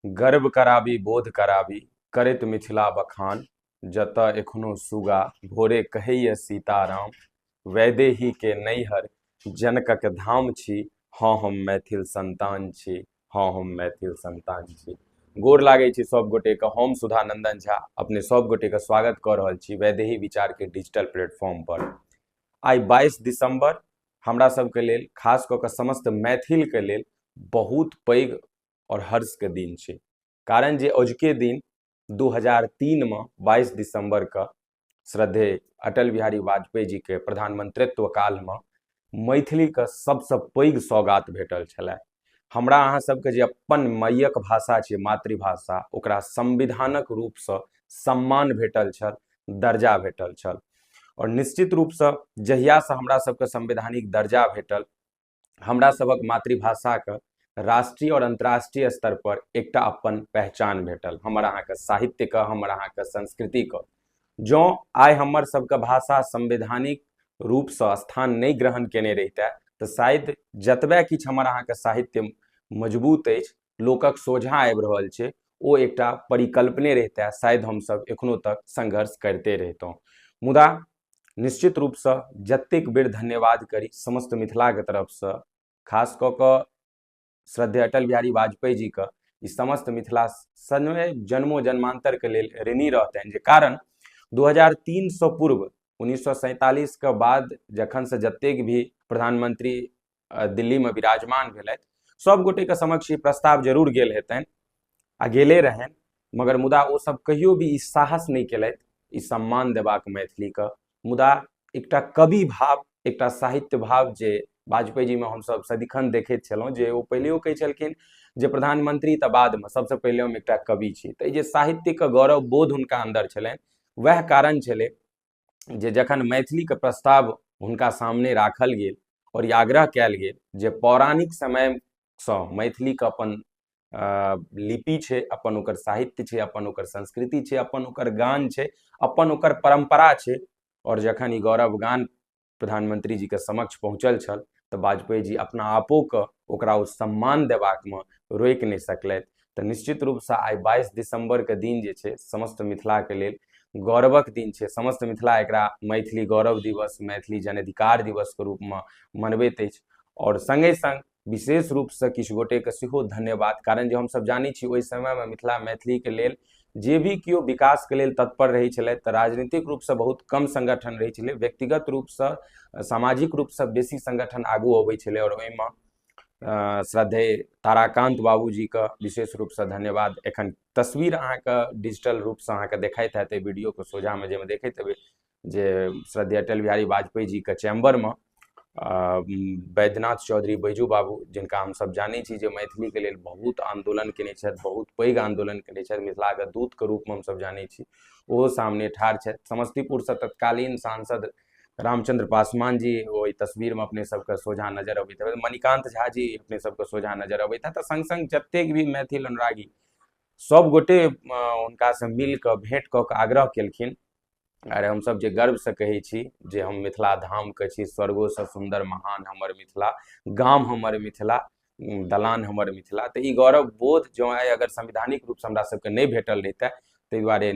गर्व कराबी बोध कराबी करैत मिथिला बखान जतय एखनो सुगा भोरे कहैए सीताराम वैदेहीके नैहर जनकक धाम छी हँ हम मैथिल संतान छी हँ हम मैथिल संतान छी गोर लागै छी सभ गोटेके हम सुधा नंदन झा अपने सभ गोटेके स्वागत कऽ रहल छी वैदेही विचारके डिजिटल प्लेटफॉर्म पर आइ बाईस दिसंबर हमरा सभके लेल खास कऽ कऽ समस्त मैथिलके लेल बहुत पैघ आओर हर्षके दिन छै कारण जे अजुके दिन दू हजार तीनमे बाइस दिसम्बरके श्रद्धे अटल बिहारी वाजपेयी जीके प्रधानमंत्रित्व कालमे मैथिलीके सबसँ पैघ सौगात भेटल छलै हमरा अहाँ सबके जे अपन मैयक भाषा छै मातृभाषा ओकरा संविधानक रूपसँ सम्मान भेटल छल दर्जा भेटल छल आओर निश्चित रूपसँ जहियासँ हमरा सबके संवैधानिक दर्जा भेटल हमरा सभक मातृभाषाके राष्ट्रीय आओर अन्तर्राष्ट्रीय स्तर पर एकटा अपन पहचान भेटल हमर अहाँके साहित्यके हमर अहाँके संस्कृतिके जँ आइ हमर सभके भाषा संवैधानिक रूपसँ स्थान नहि ग्रहण केने रहितै तऽ शायद जतबे किछु हमर अहाँके साहित्य मजबूत अछि लोकक सोझा आबि रहल छै ओ एकटा परिकल्पने रहितै शायद हमसभ एखनो तक संघर्ष करिते रहितहुँ मुदा निश्चित रूपसँ जतेक बेर धन्यवाद करी समस्त मिथिलाके तरफसँ खास कऽ कऽ श्रद्धे अटल बिहारी वाजपेयी जीके ई समस्त मिथिला सनमे जन्मो जन्मान्तरके लेल ऋणी रहतनि जे कारण 2003 सँ पूर्व उन्नीस के बाद जखन से जतेक भी प्रधानमंत्री दिल्लीमे विराजमान भेलथि सब गोटेके समक्ष ई प्रस्ताव जरूर गेल हेतनि आ गेले रहनि मगर मुदा ओ सब कहियो भी ई साहस नहि केलथि ई सम्मान देबाक मैथिलीके मुदा एकटा कवि भाव एकटा साहित्य भाव जे वाजपेयी जी में हम सब सदिखन देखे छलहुँ जे ओ पहिलेओ कहै छलखिन जे प्रधानमंत्री तऽ बादमे सबसँ पहिले हम एकटा कवि छी तऽ जे साहित्यके गौरव बोध हुनका अन्दर छलनि वएह कारण छलै जे जखन मैथिलीके प्रस्ताव हुनका सामने राखल गेल आओर ई आग्रह कयल गेल जे पौराणिक समयसँ मैथिलीके अपन लिपि छै अपन ओकर साहित्य छै अपन ओकर संस्कृति छै अपन ओकर गान छै अपन ओकर परम्परा छै आओर जखन ई गौरव गान प्रधानमंत्री जी के समक्ष पहुँचल छल तऽ वाजपेयी जी अपना आपो के ओकरा ओ सम्मान देबाक मे रोकि नहि सकलथि तऽ निश्चित रूप से आइ बाईस दिसंबर के दिन जे छै समस्त मिथिला के लेल गौरवक दिन छै समस्त मिथिला एकरा मैथिली गौरव दिवस मैथिली जन अधिकार दिवस के रूप मे मनबैत अछि आओर संगे संग विशेष रूपसँ किछु गोटेके सेहो धन्यवाद कारण जे हमसभ जानै छी ओहि समयमे मिथिला मैथिलीके लेल जे भी केओ विकासके लेल तत्पर रहै छलथि तऽ राजनीतिक रूपसँ बहुत कम संगठन रहै छलै व्यक्तिगत रूपसँ सामाजिक रूपसँ बेसी संगठन आगू अबै छलै आओर ओहिमे श्रद्धे ताराकान्त बाबूजीके विशेष रूपसँ धन्यवाद एखन तस्वीर अहाँके डिजिटल रूपसँ अहाँके देखाइत हैत एहि वीडियोके सोझामे जाहिमे देखैत हेबै जे श्रद्धेय अटल बिहारी वाजपेयी जीके चैम्बरमे बैद्यनाथ चौधरी बैजू बाबू जिनका हमसभ जानै छी जे मैथिलीके लेल बहुत आन्दोलन केने छथि बहुत पैघ आन्दोलन केने छथि मिथिलाके दूतके रूपमे हमसभ जानै छी ओहो सामने ठाढ़ छथि समस्तीपुरसँ तत्कालीन सांसद रामचंद्र पासवान जी ओहि तस्वीरमे अपने सबके सोझा नजर अबैत हेतै मणिकान्त झा जी अपने सबके सोझा नजर अबैत हेतै संग संग जतेक भी मैथिल अनुरागी सभगोटे हुनकासँ मिल कऽ भेँट कऽ कऽ आग्रह केलखिन अरे हमसभ जे गर्वसँ कहै छी जे हम मिथिला धामके छी स्वर्गोसँ सुन्दर महान हमर मिथिला गाम हमर मिथिला दलान हमर मिथिला तऽ ई गौरव बोध जँ आइ अगर संवैधानिक रूपसँ हमरा सभके नहि भेटल रहितै ताहि दुआरे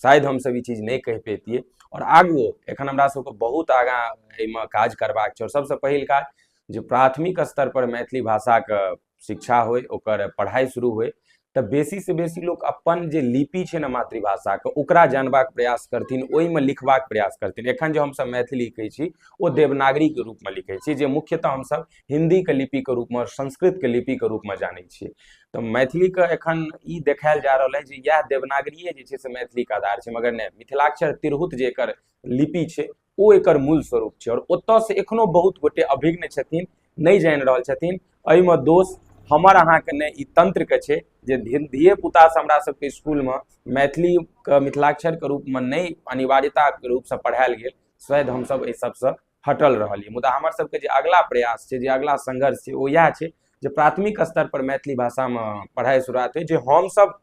शायद हमसभ ई चीज नहि कहि पैतियै आओर आगू एखन हमरा सभके बहुत आगाँ एहिमे काज करबाक छै आओर सभसँ पहिल काज जे प्राथमिक स्तर पर मैथिली भाषाके शिक्षा होइ ओकर पढ़ाइ शुरू होइ तऽ बेसी से बेसी लोक अपन जे लिपि छै ने मातृभाषाके ओकरा जानबाक प्रयास करथिन ओहिमे लिखबाक प्रयास करथिन एखन जे हमसभ मैथिली लिखै छी ओ देवनागरीके रूपमे लिखै छी जे मुख्यतः हमसभ हिन्दीके लिपिके रूपमे संस्कृतके लिपिके रूपमे जानै छियै तऽ मैथिलीके एखन ई देखायल जा रहल अइ जे इएह देवनागरिए जे छै से मैथिलीके आधार छै मगर नहि मिथिलाक्षर तिरहुत जे एकर लिपि छै ओ एकर मूल स्वरूप छै आओर ओतयसँ एखनो बहुत गोटे अभिज्ञ छथिन नहि जानि रहल छथिन एहिमे दोष हमर अहाँके नहि ई तंत्रके छै जे धी- धिये पुतासँ हमरा सबके स्कूलमे मैथिलीके मिथिलाक्षरके रूपमे नहि अनिवार्यताके रूपसँ पढ़ायल गेल शायद हमसब एहि सबसँ हटल रहलियै मुदा हमर सबके जे अगिला प्रयास छै जे अगिला संघर्ष छै ओ इएह छै जे प्राथमिक स्तर पर मैथिली भाषामे पढ़ाइ शुरुआत होइ जे हमसब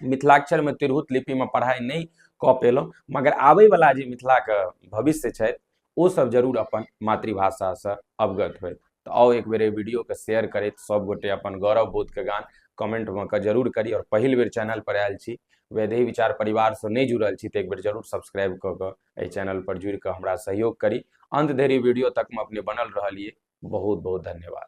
मिथिलाक्षरमे तिरहुत लिपिमे पढ़ाइ नहि कऽ पेलहुँ मगर आबैवला जे मिथिलाके भविष्य छथि ओसभ जरूर अपन मातृभाषासँ अवगत होय तऽ आउ एक बेर एहि वीडियोके शेयर करैत सभगोटे अपन गौरव बोधके गान कमेंटमे कऽ जरूर करी आओर पहिल बेर चैनलपर आयल छी वैदेही विचार परिवारसँ नहि जुड़ल छी तऽ एक बेर जरूर सब्सक्राइब कऽ कऽ एहि चैनलपर जुड़ि कऽ हमरा सहयोग करी अन्त धरि वीडियो तकमे अपने बनल रहलियै बहुत बहुत धन्यवाद